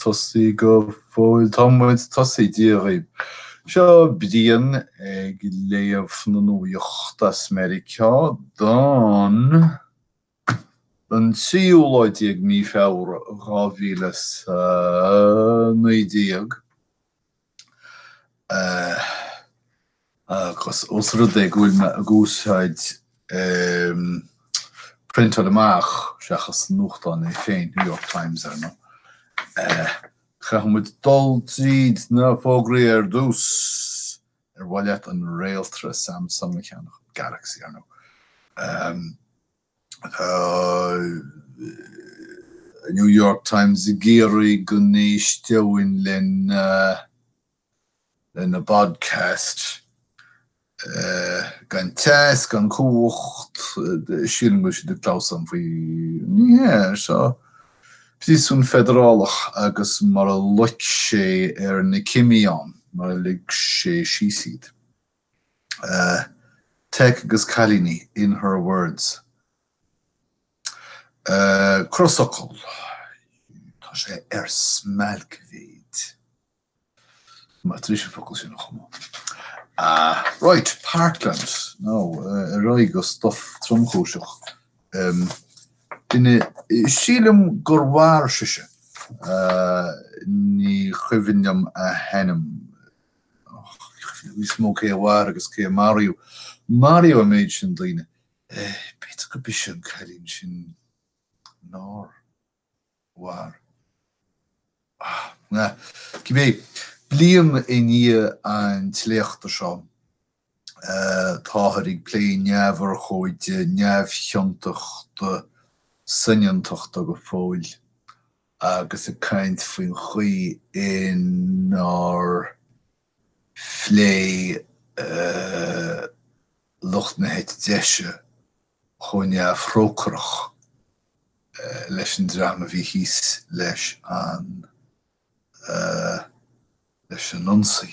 tosaithe go fóill. Tá muid tosaithe. Dia daoibh. Seo Brian ag léamh na nuaíochta as Meiriceá don don tríú lá déag mí Feabhra dhá mhíle is a naoi déag. Agus ós rud é go bhfuil mé ag úsáid priontáil amach seachas nuachtán é féin, New York Times ar ndóigh, caithfidh muid dul tríd na fógraí ar dtús. Ar mhaith leat an réaltra Samsung a cheannach, Galaxy ar ndóigh? Tá New York Times ag iarraidh go n-éisteoinn lena bpodcast. Gan teas, gan chumhacht, sílim go bhfuil siad ag clamhsán faoi ní hea ar seo. Príosún feidearálach agus mar a loic sé ar na cimí ann, mar a lig sé síos iad. Teic agus cailíní, in her words. Crosfhocal, Tá sé ar smailcmhéid. Mé tar éis an focal sin a chumadh. Right, Parkland. Nó, ar aghaidh go stuff tromchúiseach. Sílim gur mhair sise. Ní chuimhin liom a hainm. níos mó cé a mhair agus cé a maraíodh. Maraíodh an méid sin daoine. B'fhéidir go b'ise an cailín sin nár mhair. Cibé, bliain i ndiaidh an tsléachta seo, Táthar ag plé neamhurchóide neamhchiontachta soineantachta go fóill agus ag caint faoin chaoi inar phléigh lucht na heite deise chomh neamhthrócaireach leis an dream a bhí thíos leis an leis an ionsaí.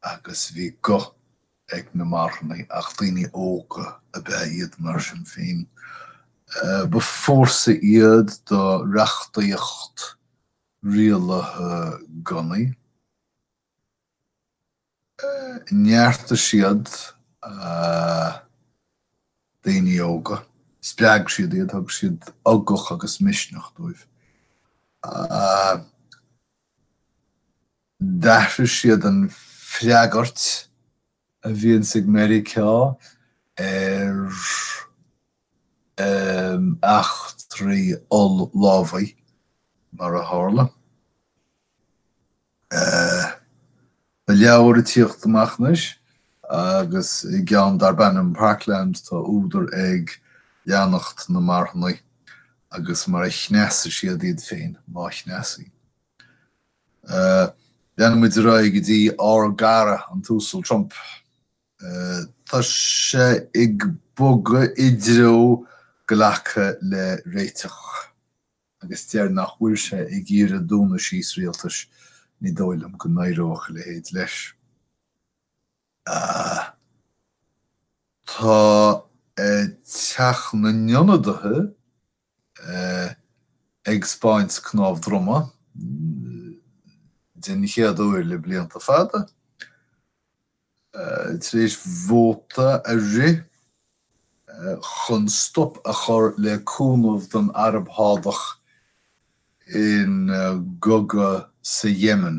agus bhí guth ag na marthanaigh ach daoine óga ab ea iad mar sin féin. Ba fórsa iad do reachtaíocht rialaithe gunnaí. Neartaigh siad daoine óga, spreag siad iad, thug siad ugach agus misneach dóibh. D'athraigh siad an freagairt a bhíonns ag Meiriceá ar eachtraí oll-lámhaigh,, mar a tharla. Tá leabhar ag tíocht amach anois agus i gceann darb ainm Parkland tá údar ag leanacht na marthanaigh agus mar a chneasaigh siad iad féin, má chneasaigh. Leanann muid ar aghaidh go dtí ár gcara an tUasal Trump. Tá sé ag bogadh i dtreo glacadh le réiteach agus deir nach bhfuil sé ag iarraidh dúnadh síos rialtais, ní dóigh liom go n-éireodh a leithéid leis. Tá Teach na nIonadaithe ag 'speáint cnámh droma den chéad uair le blianta fada, tar éis vóta a rith chun stop a chur le cúnamh don Araib Shádach ina gcogadh sa Yemen.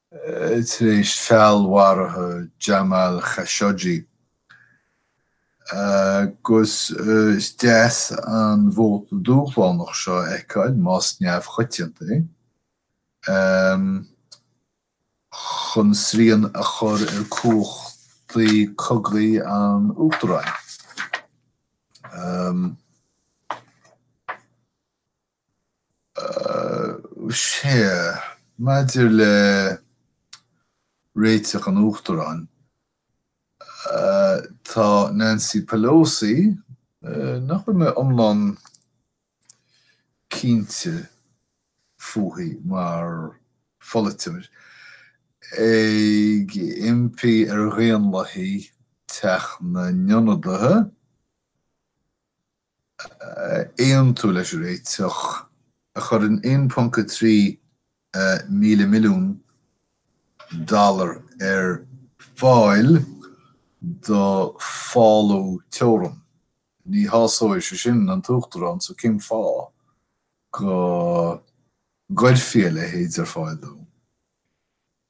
tar éis feallmharú Jamal Khashoggi, agus is deas an vóta dúshlánach seo a fheiceáil, más neamhchoitianta é, chun srian a chur ar chumhachtaí cogaidh an Uachtaráin. Sea, maidir le réiteach an Uachtaráin, tá Nancy Pelosi, nach bhfuil mé iomlán cinnte fúithi mar pholaiteoir, ag impí ar Dhaonlathaigh Teach na nIonadaithe, aontú leis an réiteach a chuireann 1.3 míle milliún dollar ar fáil do fálú teorann. Ní shásóidh sé sin an tUachtarán so cén fáth go gcuirfí a leithéid ar fáil dó?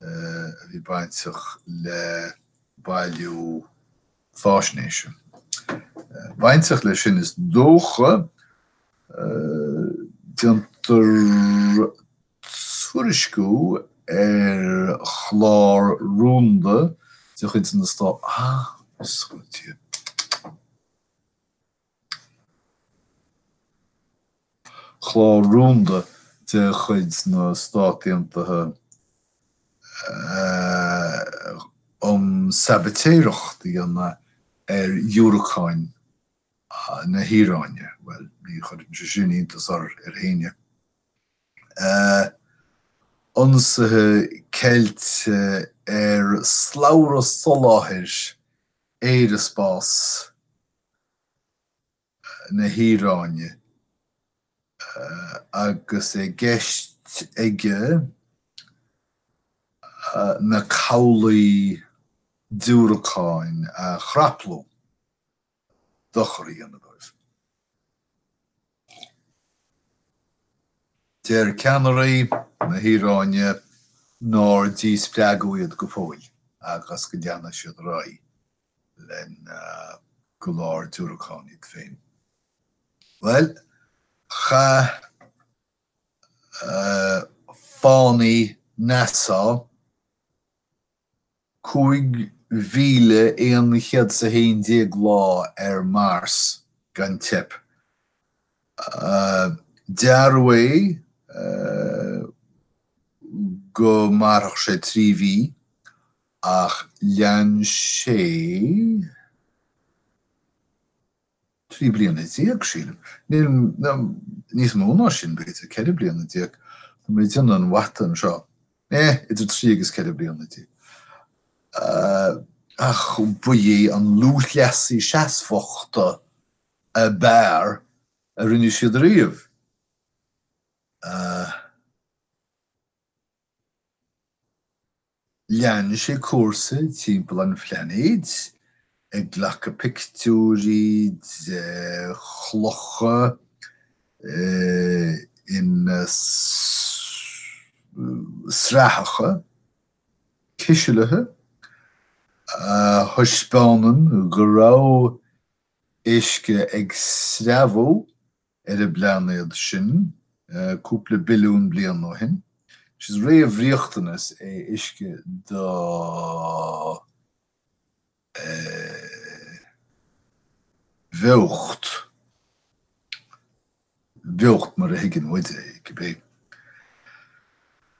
a bhí bainteach le bailiú faisnéise. Bainteach le sin is dócha, déantar tuairisciú ar chlár rúnda de chuid na Stát, ah, is go dtí, chlár rúnda de chuid na Stát Aontaithe um sabaitéireacht a dhéanamh ar dhiúracáin na hIaráine. Bhuel, ní chuireann sé sin iontas ar éinne. Ionsaithe ceilte ar shlabhra soláthair aeraspás na hIaráine agus i gceist aige na cabhlaigh diúracáin a chraplú, dochar a dhéanamh dóibh. Deir ceannairí na hIaráine nár díspreagadh iad go fóill agus go leanfaidh siad ar aghaidh le go leor diúracán a dhéanamh. Bhuel, chaith fánaí NASA. 5111 lá ar Mars gan teip. Dearadh é go mairfeadh sé trí mhí, ach lean sé. Trí bliana déag, sílim. Nó níos mó ná sin, b'fhéidir, ceithre bliana déag. Tá mé ag déanamh an mhata anseo. Eh, idir trí agus ceithre bliana déag. Eh, ach ba é an lúthchleasaí seasmhachta ab fhearr a rinne siad riamh. Eh. Lean sé cúrsa timpeall an phlainéid, ag glacadh pictiúirí de chlocha ina srathacha cisealaithe, a thaispeánann go raibh uisce ag sreabhadh ar an bplainéad sin cúpla billiún bliain ó shin. Is réamhriachtanas é uisce do bheocht, beocht mar a thuigeann muid é, cibé.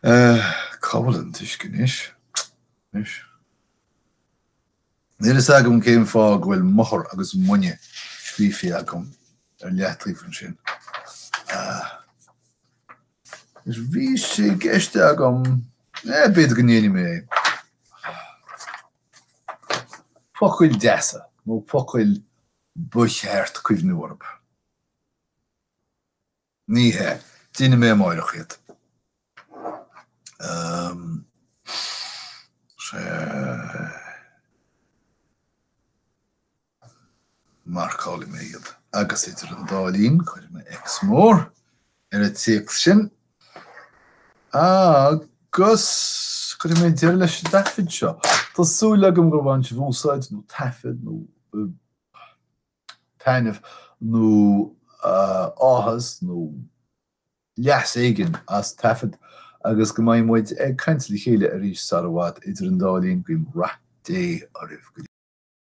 Cá bhfuil an t-uisce anois? Níl a fhios agam cén fáth go bhfuil mothar agus muine scríofa agam ar leathtaobh ansin. Anois, bhí sé i gceist agam, eh, b'fhéidir go ndéanfaidh mé é. Focail deasa, nó focail ba cheart cuimhniú orthu. Ní hea. Déanfaidh mé amáireach iad. Marcálfaidh mé iad. Agus idir an dá linn, cuirfidh mé X mór ar an téacs sin agus cuirfidh mé deireadh leis an dtaifead seo. Tá súil agam gur bhain sibh úsáid nó taifead nó. taitneamh nó áthas nó leas éigin as an taifead agus go mbeidh muid ag caint le chéile arís sara bhfad. Idir an dá linn, guím rath Dé oraibh go léir.